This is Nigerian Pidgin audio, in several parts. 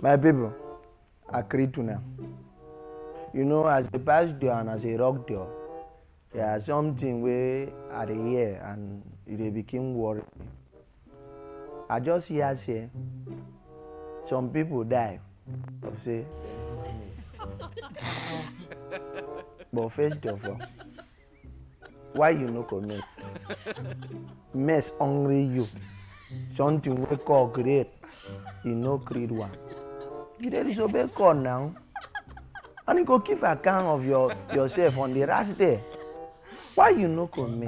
My people, I greet you now. You know, as a bash door and as a rock door, there are something where I dey hear and it dey become worry. I just hear say some people die of say but first of all why you no commit mess hungry you something wey call great you no create one you dey disobey God now and you go keep account of your yourself on the last day why you no come me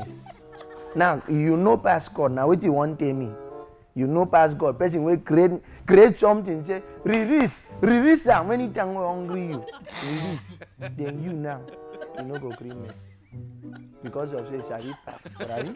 now you no pass god na wetin you wan tell me you no pass god person wey create create something say release release am when he time wey hungry you release then you now you no go gree me because of say sabi pass right.